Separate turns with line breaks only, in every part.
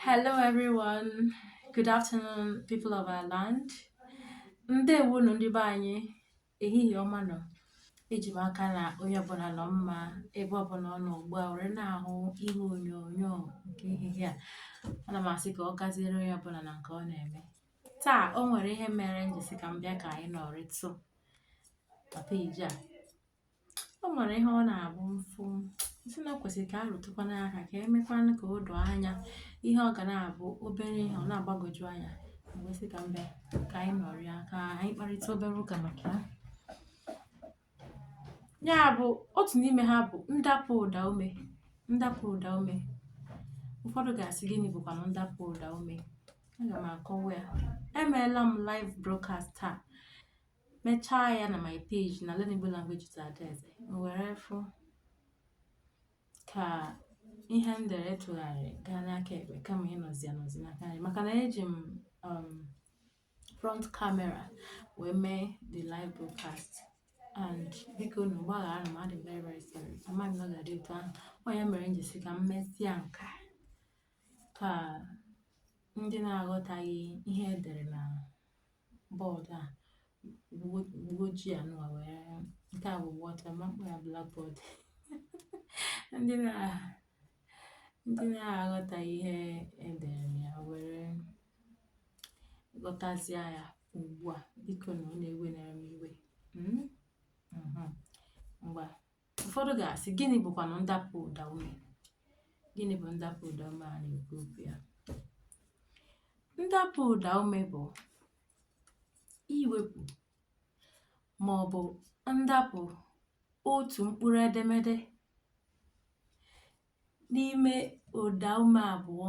Hello everyone. Good afternoon, people of our land. Ndewonụ ndị be anyị ehihie ọma nụ. Eji m aka na onye ọbụla nọ mma ebe ọbụla ọ nọ ugbu a were na-ahụ ihe onyonyo nke ehihie a. Ana m asị ka ọ gaziere onye ọbụla na nke ọ na-eme. Taa o nwere ihe mere m ji sị ka m bịa ka anyị nọrịtụ na peji a. o nwere ihe ọ na-abụ m fụ sị na o kwesịrị ka a rụtụkwanụ aka ka e mekwanụ ka o doo anya ihe ọ ga na-abụ obere ihe ọ na-agbagwoju anya wee sị ka m bịa ka anyị nọrịa ka anyị kparịta obere ụka maka ya ya bụ otu n'ime ha bụ ndapụ ụda ume ndapụ ụda ume ụfọdụ ga-asị gịnị bụkwanụ ndapụ ụda ume aga m akọwa ya emeela m live broadcast taa mechaa ya na my page na Learn Igbo Language with Adaeze were fụ ka ihe m dere tụgharị gaa n'aka ekpe kama ịnọzi anọzi n'aka nri maka na eji m um, front camera wee mee the live broadcast and biko nụ gbaghara m adị m very very sorry amaghị m na ọ ga-adị otu ahụ ọ ya mere m ji sị ka m mesịa nke a ka ndị na-aghọtaghị ihe edere na board a ugbo ojii a nụwa wee nke a bụ white ama m akpọ ya blackboard ndị na ndị na-aghọtaghị ihe edere na ya were ghọtazie ya ugbu a biko nụ unu ewenara m iwe Mm? Mhm. ngwa Ụfọdụ ga-asị, gịnị bụkwanụ ndapụ ụda ume? Gịnị bụ ndapụ ụda ume a na-ekwu okwu ya? Ndapụ ụda ume bụ iwepụ ma ọ bụ ndapụ otu mkpụrụ edemede n'ime ụda ume abụọ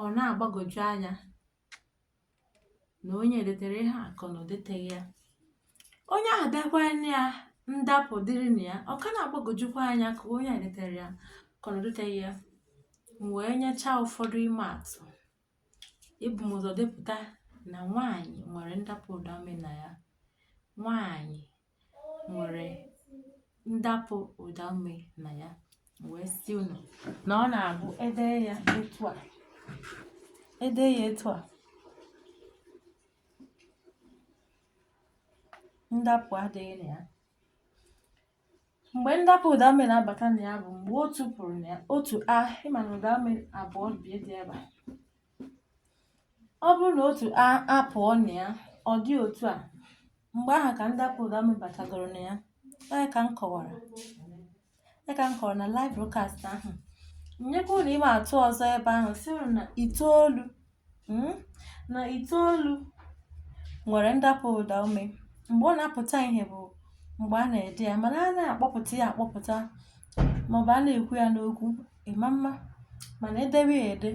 ọ na-agbagwoju anya na onye a detere ihe a ka ọ na o deteghị ya onye ahụ dekwanụ ya ndapụ dịrị na ya ọ ka na-agbagwojukwa anya ka onye a detere ya ka ọ na o deteghị ya m wee nyechaa ụfọdụ ịma atụ ebu m ụzọ depụta na nwaanyị nwere ndapụ ụdaume na ya nwaanyị nwere ndapụ ụda ume na ya wee sị unu na ọ na-abụ e dee ya etu a e dee ya etu a ndapụ adịghị na ya mgbe ndapụ ụda ume na-abata na ya bụ mgbe otu pụrụ na ya otu a ị ma na ụda ume abụọ bụ ihe dị ebe a ọ bụrụ na otu a apụọ na ya ọ dị otu a mgbe ahụ ka ndapụ ụda ume batagoro na ya ọ ya ka m kọwara ọ ya ka m kọwara na live broadcast ahụ nyekwa unu ịma atụ ọzọ ebe ahụ sị unu na itoolu mm, na itoolu nwere ndapụ ụda ume mgbe ọ na-apụta ihe bụ mgbe a na-ede ya mana a na-akpọpụta ya akpọpụta maọbụ a na-ekwu ya n'okwu ị ma ama mana e debe ya ede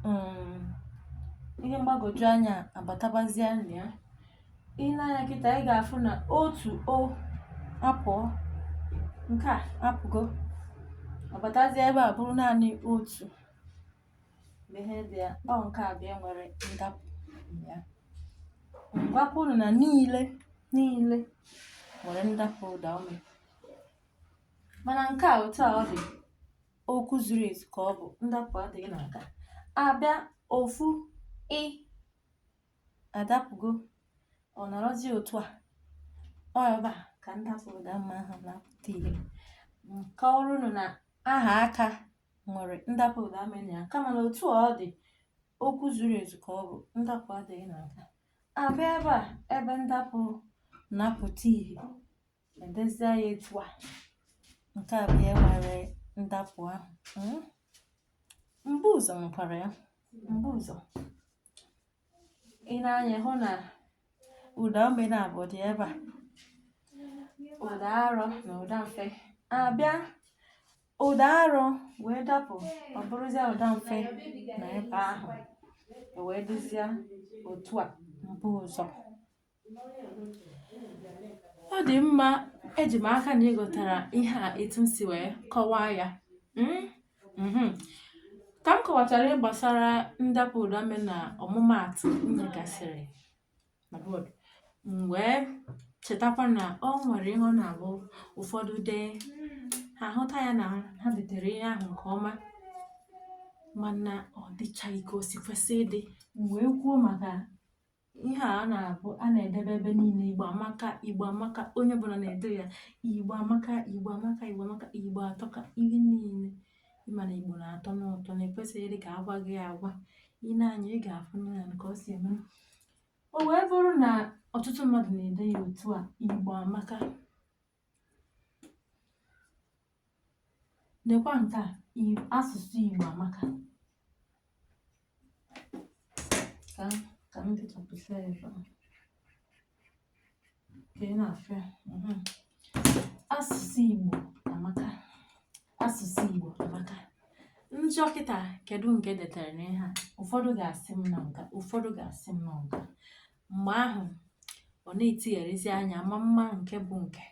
um ihe mgbagwoju anya abatabazia na ya i nee anya kịta ị ga-afụ na otu o apụọ nke a apụgo a batazie ebe a bụrụ naanị otu ihe dị ya ọ nke a bịa nwere ndapụ ya m gwakwa unu na niile niile nwere ndapụ ụda ume mana nke a otu a ọ dị okwu zuru ezu ka ọ bụ ndapụ adịghị na nke a a bịa ofu ị adapụgo ọ nọrọzi otu a ọ ebe a ka ndapụ ụda ume ahụ na-apụta ihe m kọọrọ unu na aha aka nwere ndapụ ụda ume na ya kama na otu ọ dị okwu zuru ezu ka ọ bụ ndapụ adịghị na nke a a bịa ebe a ebe ndapụ na-apụta ihe e dezie ya etu a nke a bụ ya nwere ndapụ ahụ hmm? mbuụzọ nwekwara ya mbuụzọ i nee anya hụ na ụda ume naabọ dị ebe a ụda arọ na ụda mfe a bịa ụda arọ wee dapụ ọ bụrụzie ụda mfe na ebe ahụ wee dịzie otu a mbụzọ ọ dị mma eji m aka na ị ghọtara ihe a etu m si wee kọwaa ya mm? mhm. ka m kọwachara ihe gbasara ndapụ ụda ume na ọmụmaatụ m nyegasịrị na bọọdụ m wee chetakwa na o nwere ihe ọ na-abụ ụfọdụ dee ha hụta ya na ha detere ihe ahụ nke ọma mana ọ dịchaghị ka o si kwesị ịdị m wee kwuo maka ihe a na-abụ a na-edebe ebe niile igbo amaka igbo amaka onye ọbụla na-ede ya igbo amaka igbo amaka igbo amaka igbo atọka ihe niile ị ma na igbo na-atọnụ ụtọ na e kwesịghịrị ka a gwa gị agwa i nee anya ị ga-afụ na ya ka o si eme o wee bụrụ na ọtụtụ mmadụ na-ede ya otu a igbo amaka Lekwa nke a, i- asụsụ Igbo amaka. Ka ka m dechapụsịa ya ebe a. Ka ị na-afụ ya. mhm. Asụsụ Igbo amaka. Asụsụ Igbo amaka. M jụọ kịta kedu nke e detere n'ihe a? Ụfọdụ ga-asị m na nke a, ụfọdụ ga-asị m na nke a. Mgbe ahụ, ọ na-etigharịzi anya ma mma nke bụ nke,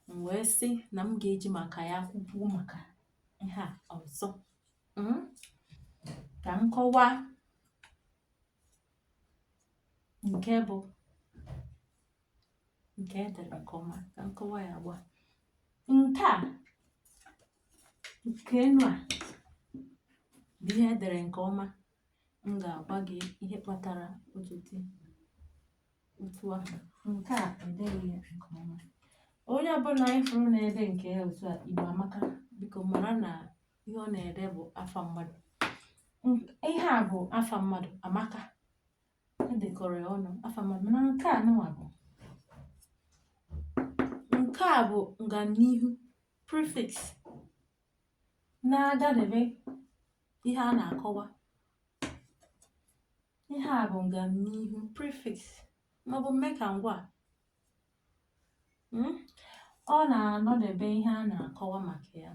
m wee sị na m ga-eji maka ya kwukwuo maka ihe a ọzọ. Mm? Ka m kọwaa nke bụ nke e dere nke ọma ka m kọwaa ya ugbua nke a nke enu a bụ ihe e dere nke ọma m ga-agwa gị ihe kpatara o ji dị otu a nke a edeghị ya nke ọma onye ọbụna ị fụrụ na-ede nke ya otu a igbo amaka biko mara na ihe ọ na-ede bụ afa mmadụ Nk- ihe a bụ afa mmadụ amaka e dekọrọ ya ọnụ afa mmadụ mana nke a nụwa bụ nke a bụ nganihu prefix na-agadebe ihe a na-akọwa ihe a bụ ngamnihu prefix maọbụ mme ka ngwaa hmm? ọ na-anọdebe ihe a na-akọwa maka ya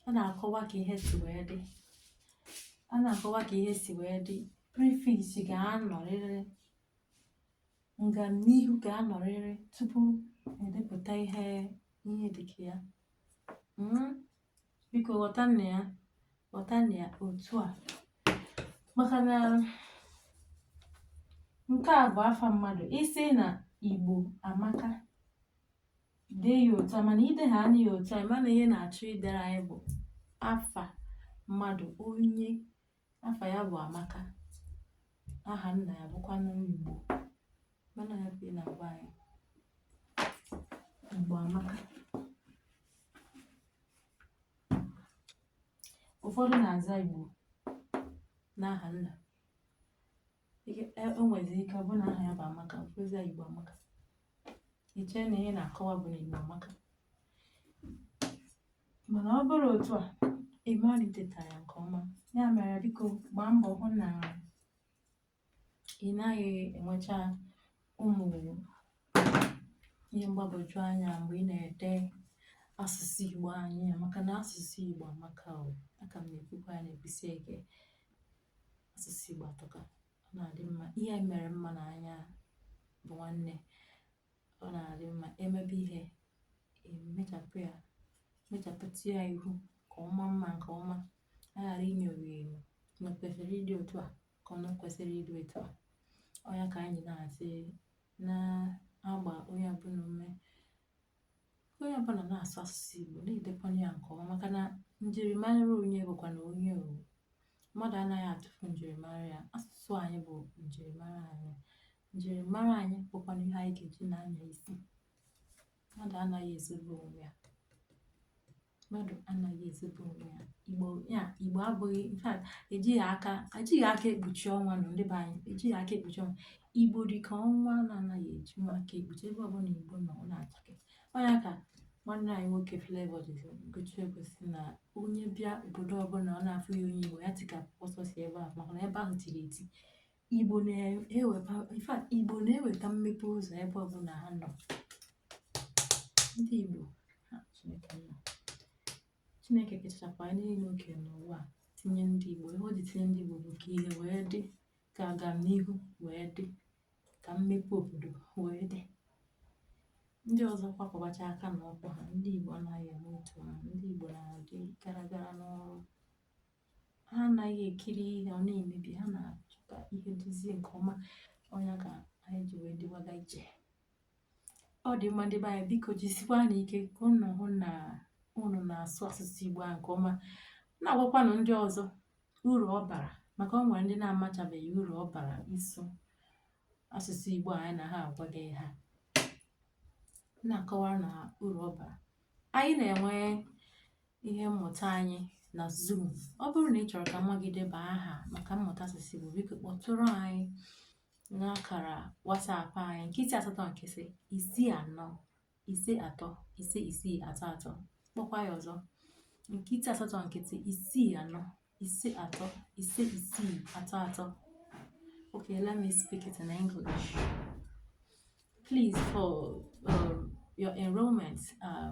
ọ na-akọwa ka ihe si wee dị a na-akọwa ka ihe si wee dị prefix ga-anọrịrị ngamnihu ga-anọrịrị tupu e depụta ihe ihe dịka ya Mm, biko ghọtanụ ya ghọtanụ ya otu a maka na nke a bụ afa mmadụ ị sị na igbo amaka dee ya otu a mana i deere anyị ya otu a ma na ihe ị na-achọ idere anyị bụ afa mmadụ onye Afa ya bụ Amaka. Aha nna ya bụkwanụ Igbo. Ma na ya bụ ihe ị na-agwa anyị. Igbo Amaka. Ụfọdụ na-aza Igbo n'aha nna. Ike e o nwezi ike ọ bụ na aha ya bụ Amaka ọ zaa ya Igbo Amaka i chee na ihe ị na-akọwa bụ na Igbo amaka mana ọ bụrụ otu a ị mara i detara ya nke ọma ya mere biko gbaa mbọ hụ na ị naghị enwecha ụmụ ihe mgbagwoju anya mgbe ị na-ede asụsụ Igbo anyị a maka na asụsụ Igbo amaka o a ka m na-ekwukwa ya na-ekwusi ike asụsụ Igbo atọka ọ na-adị mma ihe mere mma na anya bụ nwanne ọ na-adị mma e mebe ihe e mechapụ ya mechapụta ya ihu ka ọ maa mma nke ọma a ghara inyo ya enyo na o kwesịrị ịdị otu a ka ọ kwesịrị ịdị otu a ọ ya ka anyị na-asị na-agba onye ọbụla ume onye ọbụla na-asụ asụsụ Igbo na-edekwanụ ya nke ọma maka na njirimara onye bụkwanụ onye ọ bụ mmadụ anaghị atụfu njirimara ya asụsụ anyị bụ njirimara anyị njirimara anyị bụkwanụ ihe anyị ga-eji na-anya isi mmadụ anaghị ezobe onwe ya mmadụ anaghị ezobe onwe ya igbo ya igbo abụghị in fact ejighị aka ejighị aka ekpuchi ọnwa nọ ndị be anyị ejighị aka ekpuchi ọnwa igbo dị ka ọnwa na-anaghị ejinwu aka ekpuchi ebe ọbụla igbo nọ ọ na-achake ọ nya ka nwanne anyị nwoke Flavour jiri gụchie egwu sị na onye bịa obodo ọbụla ọ na-afụghị onye igbo ya tikapụ ọsọ si ebe ahụ maka na ebe ahụ tiri eti Igbo na-eweta in fact Igbo na-eweta mmepe ụzọ ebe ọbụla ha nọ ndị Igbo ha Chineke nna Chineke kechachakwa anyị niile o kere n'ụwa a, tinye ndị Igbo ihe o ji tinye ndị Igbo bụ ka ihe wee dị ka agamnihu wee dị ka mmepe obodo wee dị ndị ọzọ kwakọbacha aka na ọkpa ha ndị Igbo anaghị eme otu ahụ ndị Igbo na-adị gara gara n'ọrụ ha anaghị ekiri ihe ọ na-emebi ha na-achọ ka ihe dịzie nke ọma ọ nya ka anyị ji wee dịwaga iche ọ dị mma ndị be anyị biko jisikwanụ ike ka ụnụ hụ na ụnụ na-asụ asụsụ Igbo ahụ nke ọma na-agwakwanụ ndị ọzọ uru ọ bara maka o nwere ndị na-amachabeghị uru ọ bara ịsụ asụsụ Igbo anyị na ha agwaghị ha na-akọwara na uru ọ bara anyị na-enwe ihe mmụta anyị na Zoom. Ọ bụrụ na ị chọrọ ka nwa gị deba aha maka mmụta asụsụ Igbo, biko kpọtụrụ anyị n'akara WhatsApp anyị nkịtị asatọ nkịtị isii anọ ise atọ ise isii atọ atọ kpọkwa ya ọzọ nkịtị asatọ nkịtị isii anọ ise atọ ise isii atọ atọ okay let me speak it in english please for um, your enrollment uh,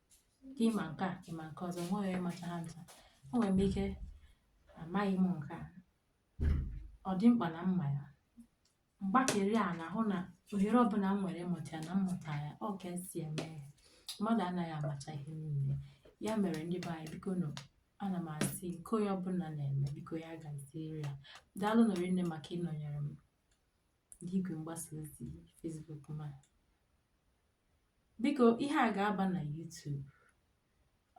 ka ị ma nke a ị ma nke ọzọ nweghị onye macha ha ncha enwere m ike amaghị m nke a ọ dị mkpa na m ma ya mgbakeri a na-ahụ na ohere ọbụla m nwere ịmụta ya na m mụta ya ọ ka e si eme ya mmadụ anaghị amacha ihe niile ya mere ndị be anyị bikonụ ana m asị nke onye ọbụla na-eme biko ya gaziere ya daalụnụ rinne maka ịnọnyere m n'igwe mgbasa ozi Facebook ma Biko ihe a ga-aba na YouTube.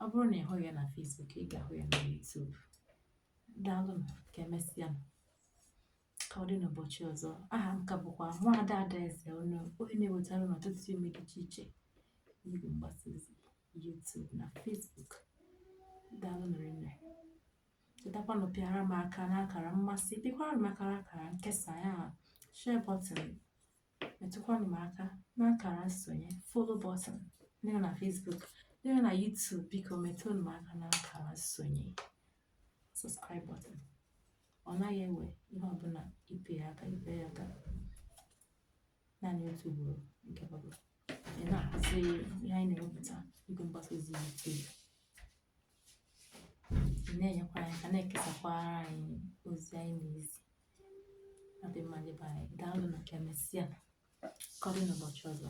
Ọ bụrụ na ị hụghị ya na Facebook, ị ga-ahụ ya na YouTube. Daalụnụ ka emesịanụ. Ka ọ dị n'ụbọchị ọzọ. Aha m ka bụkwa Nwaada Adaeze, onye na-ewetara unu ọtụtụ emume dị iche iche n'igwe mgbasa ozi YouTube na Facebook. Daalụnụ rinne. Chetakwanụ pịara m aka n'akara mmasị, pịakwara m aka n'akara nkesa ya share button metụkwanụ m aka n'akara nsonye follow button ndị nọ na Facebook ndị nọ na YouTube biko metụnụ m aka n'akara nsonye subscribe button ọ naghị ewe ihe ọbụla ịpị ya aka ị pịa ya aka naanị otu ugboro mgbe ọbụla ị na-ahụzi ihe anyị na-ewepụta n'igwe mgbasa ozi YouTube na-enyekwara anyị aka na-ekesakwara anyị ozi anyị na-ezi ọ dị mma ndị be anyị daalụnụ ka emesịa ka ọ dị n'ụbọchị ọzọ